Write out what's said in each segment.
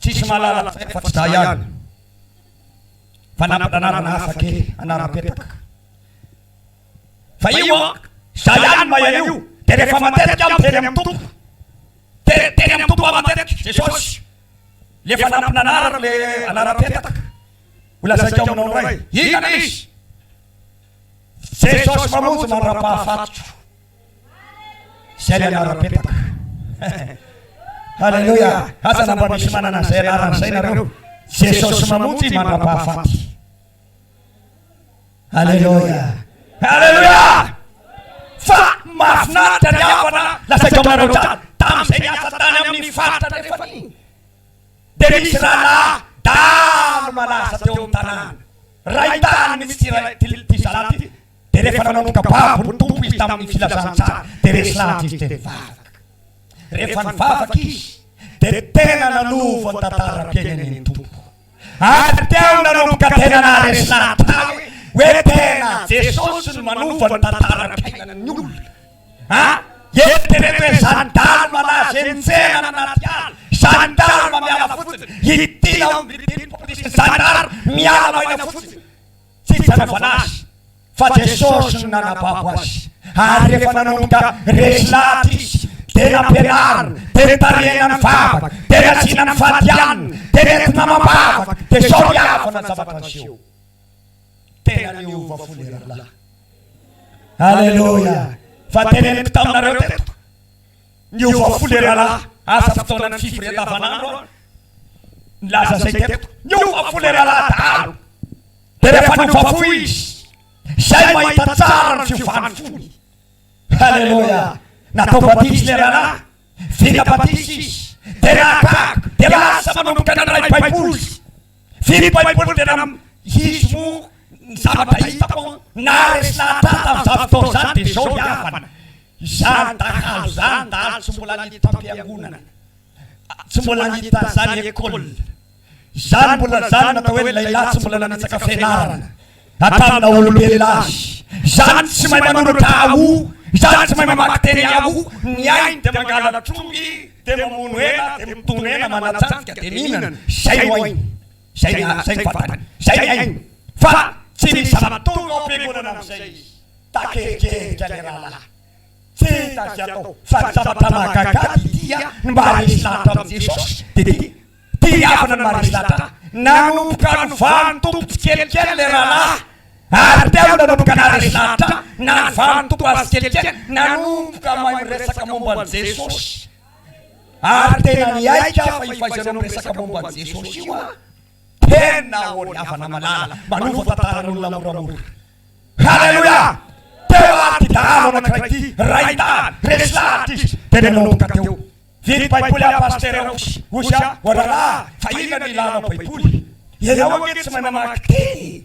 Tsisy mahalala an'izay afa tsy za ihany fa nampana anarana hafa kely anaram-petaka fa io an za ihany mahay an'io de rehefa matetika aho miteny amin'ny Tompo de teny amin'ny Tompo aho matetika Jesosy le efa nampina anarako le anaram-petaka ho lazaiko aminao indray inona le izy? Jesosy mamonjy mandra-pahafatiko Zay le anarany petaka Haleloia Aza na mba misy manana an'izay anarana izay nareo Jesosy mamonjy mandra-pahafaty Haleloia Haleloia Fa mahafinaritra ny havana lazaiko aminareo tany Tamin'izay niasa tany amin'ny faritra andrefan'iny dia nisy rahalahy dahalo malaza teo amin'ny tanàna. Rain-dahiny mihitsy ity ity zalahy ity, dia rehefa nanomboka babo ny Tompo izy tamin'ny Filazantsara, dia resy lahatra izy dia nivavaka. Rehefa nivavaka izy, dia tena nanova ny tantaram-piainany ny Tompo. Ary teo nanomboka tena naharesy nahatary hoe hoe tena Jesosy no manova ny tantaram-piainan'ny olona a! Eritrereto hoe izany dahalo malaza eny tsena na anaty ala, izany dahalo mamiala fotsiny, ity aho no midimpoka, izany dahalo miala maina fotsiny. Tsy hitsangana azy, fa Jesosy no nanababo azy. Ary rehefa nanomboka resy lahatra izy, dia nampianarina, dia nitarihina ny vavaka, dia niajiana ny fatianina, dia nentina amam-bavaka, dia sao hihavana ny zavatra niseho. Tena niova fo le rahalahy. Aleloia! Fa teneniko taminareo teto. Niova folera la aza fotoana ny fivorian davanandro aho nilaza zay teto niova folera la dahalo de refa niova fo izy zay mahita tsara ny fiovany fony haleloia natao batise le ralah vita batise izy de nahagaga de lasa manomboka nandray baiboly vino baiboly de nam izy mo ny zavatra hitako an naha resy lahatra ahy tamizany fotoana zany de zao ny havana Izany dahalo izany dahalo tsy mbola niditra am-piangonana, tsy mbola niditra an'izany école izany, mbola izany natao hoe lehilahy tsy mbola nanitsaka fianarana hatramin'ny naha olombelona azy, izany tsy mahay manoratra Yahoo, izany tsy mahay mamaky teny Yahoo, ny ainy dia mangalatr'omby, dia mamono hena, dia mitono hena, manatsantika, dia mihinana, izay no ainy. Zay na zay ny fantany. Zay ny hainy. Fa tsy misy zava-tonga ao am-piangonana amin'izay izy. Takerikerika ny rahalahy. Tsy hita izay atao. Fa ny zavatra mahagaga dia tia ny maharesy lahatra amin'i Jesosy. Dia tia. Tia havana ny maharesy lahatra. Nanomboka nivaha ny Tompo tsikelikely ilay rahalahy. Ary teo no nanomboka naharesy lahatra. Nanivaha ny Tompo azy tsikelikely. Nanomboka mahay miresaka momba an'i Jesosy. Ary tena miaiky aho fa io fahaizanao miresaka momba an'i Jesosy io an! Tena ô ry havana malala, manova tantaran'olona moramora. Haleloia! Teo àry ity dahalo anankiray ity, rain-dahy, resy lahatra izy, dia nanomboka teo. Vily Baiboly aho Pasitera Osy. Osy an! O rahalahy, fa inona no ilànao Baiboly? Ianao ange tsy mahay mamaky teny!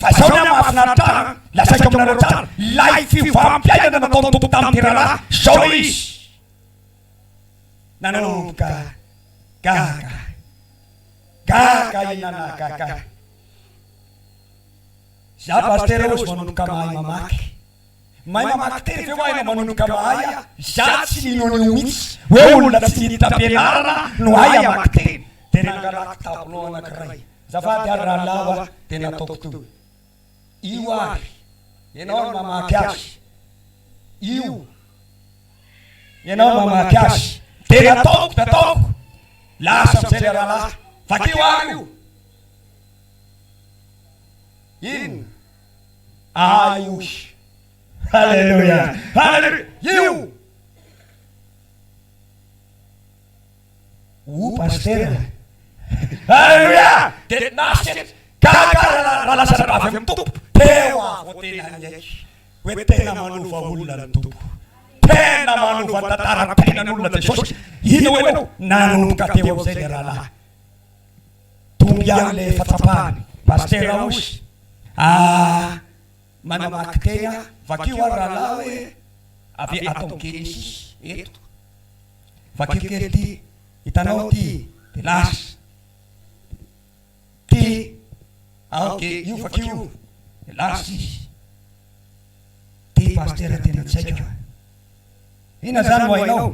Fa izao ny ahy mahafinaritra ahy an, lazaiko aminareo tsara, ilay fiovam-piainana nataon'ny Tompo tamin'ny teralahy, izao ilay izy. Nanomboka gaga, gaga i Nanagaga. Izaho Pasitera hoy izy manomboka mahay mamaky. Mahay mamaky teny ve ho'a ianao manomboka mahay a? Izaho tsy mino an'io mihitsy hoe olona tsy niditra am-pianarana no hahay hamaky teny. Dia nangalako tableau anankiray. Azafady ary rahalahy ho'a dia nataoko toy io ary ianao no mamaky azy. Io ianao no mamaky azy. Dia nataoko, nataoko. Lasa amin'izay ilay rahalahy. Vakio ary io. Inona? ahy oy. Haleloia! Haleloia! Io! O Pasitera a! Haleloia! Dia nasiany gaga raha lasa avy amin'ny Tompo. Teo aho vao tena niaiky hoe tena manova olona ny Tompo. Tena manova tantaram-piainan'olona Jesosy. Hino enao, nanomboka teo amin'izay ilay rahalahy. Tombo ihany le fahatsapany Pasitera Raosy ah manamaky tegna vakio ary rahalahy hoe avy atao Genesis eto vakio kely ty hitanao ty de lasa ty ao de io vakio de lasa izy ty Pasitera tena tsy haiko e! Inona zany no hainao?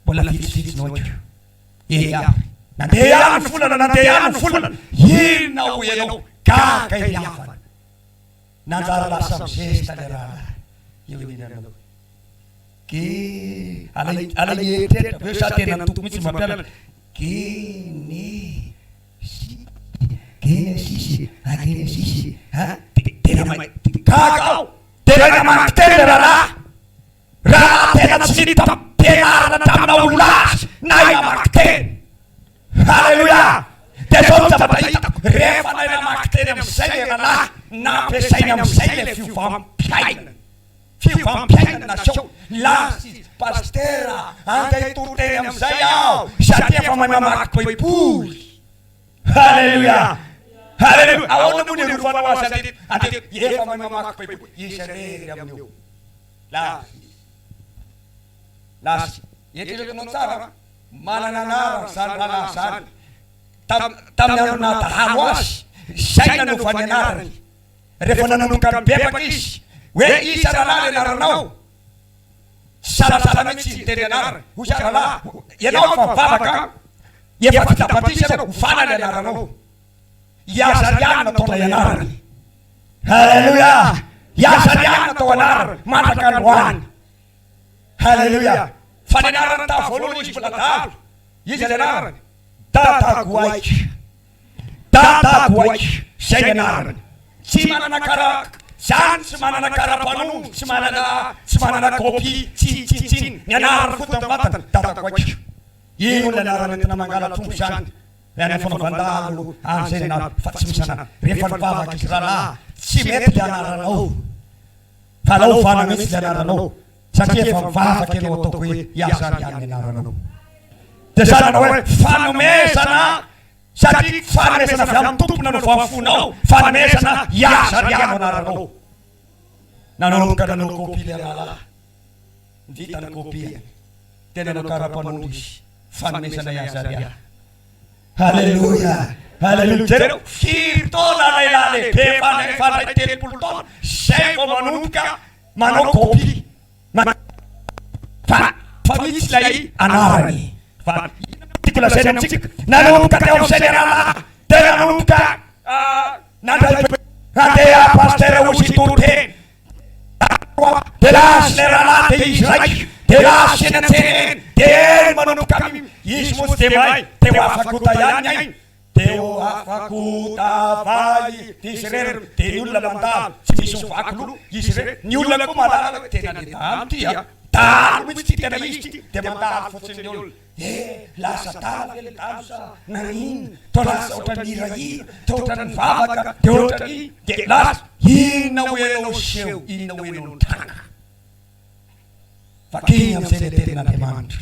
Mbola vitsivitsy no haiko. Eeh ary nandeha ihany ny volana nandeha ihany ny volana inona hoy ianao gaga i Riavana nanjary lasa mizesta le rahalahy eo aninanao gee alay alay mieritreritra avy eo sa tena ny Tompo mihitsy no mampianatra genesisy genesisy a genesisy a dia tena mahay dia gaga aho dia raha namany teny le rahalahy Raha tena tsy nitam-pianarana taminao ny lahy na i namaky teny. Haleloia! Dia izao no zavatra hitako, rehefa ilay namaky teny amin'izay ilay rahalahy, nampiasainy amin'izay ilay fiovam-piainany. Fiovam-piainany naseho. Nilaza izy, Pasitera, andeha hitory teny amin'izay aho, satria efa mahay mamaky Baiboly. Haleloia! Haleloia! Ahoana moa ny irovanao azy andeha, andeha, efa mahay mamaky Baiboly, izy irery amin'io. Lava ny lasy. Eritrereto anao tsara an! Manana anarana izany rahalahy izany. Tamin'ny andro naha-dahalo azy, izay nanova ny anarany. Rehefa nanomboka nibebaka izy, hoe iza rahalahy ny anaranao? Tsy salasala mihitsy izy niteny ny anarany. Hoy izy, Rahalahy, ianao efa mivavaka an! Efa vita batisa ianao, ho fala ny anaranao. I Azariana tao ilay anarany. Haleloia! I Azariana tao anarany mandraka androany. Haleloia! Fa ny anarany tamin'ny voalohany izy mbola dahalo. Iza ny anarany? Dadagoaika. Dadagoaika. Izay ny anarany. Tsy manana kara zany, tsy manana kara mpanondro, tsy manana tsy manana copie, tsi, tsi, tsin, ny anarany foto am vatany, Dadagoaika. Iny hono ilay anarana entina mangala-trondro izany. Ny any fanaovan-dahalo any zay na fa tsy misy anany rehefa ny vavaka izy ralahy tsy mety le anaranao fa alao ovana mihitsy le anaranao satria efa mivavaka enao ataoko hoe iaza ry any ny anaranao de zany anao hoe fanomezana satria fanomezana avy aminy tompo nanaovany ny fonao fanomezana iaza ry any no anaranao nanomboka nanao copie le ralahy Vita ny kopiany. Dia nanao kara-panondro izy, fanomezana i Azaria. Haleloia! Haleloia! Jereo, firy taona lehilahy lehibe efa nandray telopolo taona izay vao manomboka manao kopia. Fa, fa misy ilay anarany. Fa inona no tiako lazaina amintsika? Nanomboka teo amin'izay ny rahalahy, dia nanomboka nandray, handeha pasitera hozy hitory teny. Taloha dia lasa ilay rahalahy dia izy raika dia lasa eny an-tsena eny dia eny manomboka am izy mosy dia may dia ho afako ta ihany ny ainy dia ho afako ta vay izy irery dia ny olona mandalo tsy misy ho vaky loha izy irery ny olona koa mahalala hoe tena le dahalo ity an dahalo mihitsy ity tena izy ity dia mandalo fotsiny ny olona Eh! lasa adala ve le dalo sa naninona? to lasa otrany hirahira, to otrany mivavaka, de otrany de lasa inona ho enao seho inona ho enao ny tranga? vakiny amizay le tenin'Andriamanitra,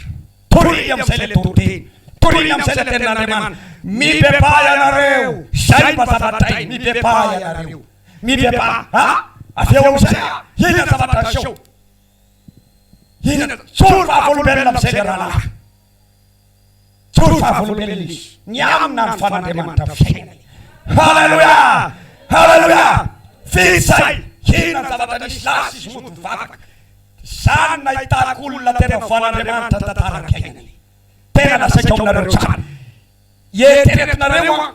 toriny amizay le toriteny, toriny amizay le tenin'Andriamanitra, mibebaha ianareo, zay mba zava-dray, mibebaha ianareo, mibebaha, ah! avy eo amizay ah! inona zavatra aseho? Inona? Tsory vavolombelona amin'izay ny rahalahy. Tsory vavolombelona izy. Ny aminy na ny fan'Andriamanitra fiainany. Haleloia! Haleloia! Vita izay. Inona ny zavatra nisy? Lasa izy mody mivavaka. Izany no nahitako olona tena voan'Andriamanitra ny tantaram-piainany. Tena lazaiko aminareo tsara. Eritreretinareo an,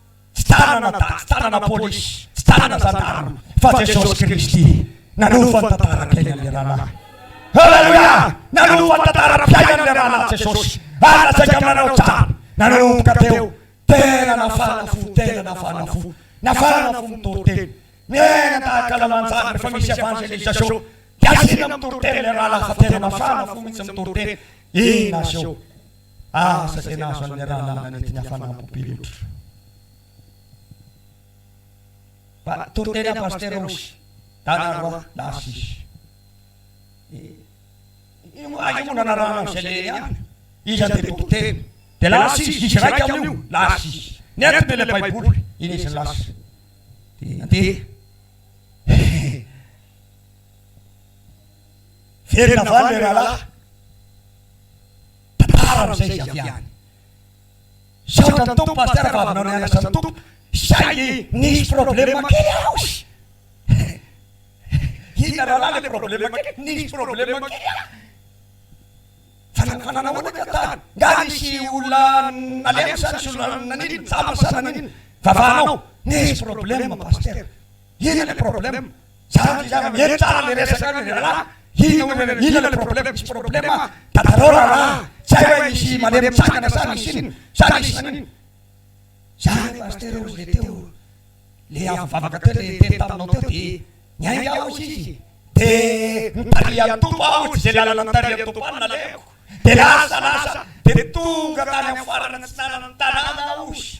Tsy tanana daty, tsy tanana polisy, tsy tanana zandary fa Jesosy Kristy nanova ny tantaram-piainan'ilay rahalahy. Aleloia! Nanova ny tantaram-piainan'ilay rahalahy Jesosy ary nasaika amin' anao tsara. Nanomboka teo, tena nafahana fo, tena nafahana fo, nafahana fo mitoriteny, miaina tahaka lalan-tsara rehefa misy evangelisation dia asiana mitoriteny ilay rahalahy fa tena mafana fo mihitsy mitoriteny. Inona aseho? Asa izay nahazo an'ilay rahalahina nety nihafanam-po be loatra. Fa toa tena Pasitera Osy, Dana Roa, Narcisse. Io moa io moa nanarahana an'izay lehilahy ihany. Iza dia boky telo. Dia lasa izy diso iraika amin'io, Narcisse. Nentiny ilay Baiboly, iny izy lasa. Dia nandeha. Miverina va ny leralahy? Tantara amin'izay izy avy any. Misaotra ny Tompo Pasteur fa avinao nianatra ny Tompo saingy nisy problème kely aho sy Inona rahalahy le problème kely? Nisy problème kely aho fa nanao ahoana ka tany? Nga nisy olona nalemy sa nisy olona nanino? Nijamba sa nanino vavahanao? Nisy problème Pasteur. Inona le problème? Zara ny vehivavy mihaino tsara le resaka any ry rahalahy, inona hoy ianareo, inona le problème? Misy problème an! Dadarao rahalahy an! Tsy hay hoe misy malemy mitsangana sa misy inona? Sa misy manino? Zah re pasitera hozy le teo, le avy nivavaka teo le niteny taminao teo de niainga aho hozy izy de nitarihan'ny Tompo aho hozy ze lalana nitarihan'ny Tompo ahy no nalehako de lasa lasa de tonga tany amin'ny farana tsy nanana tanàna aho hozy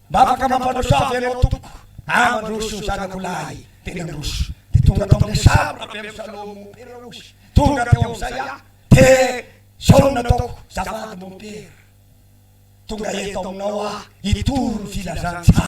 Mba afaka mampandrosoa ve ianao tompoko? Aho mandroso ny zanako lahy. Dia nandroso. Dia tonga tao amin'ilay saro rabe misaloha mompera ozy. Tonga teo amin'izay aho. Dia izao no nataoko, Zafady mompera, tonga eto aminao aho hitoro ny filazantsara.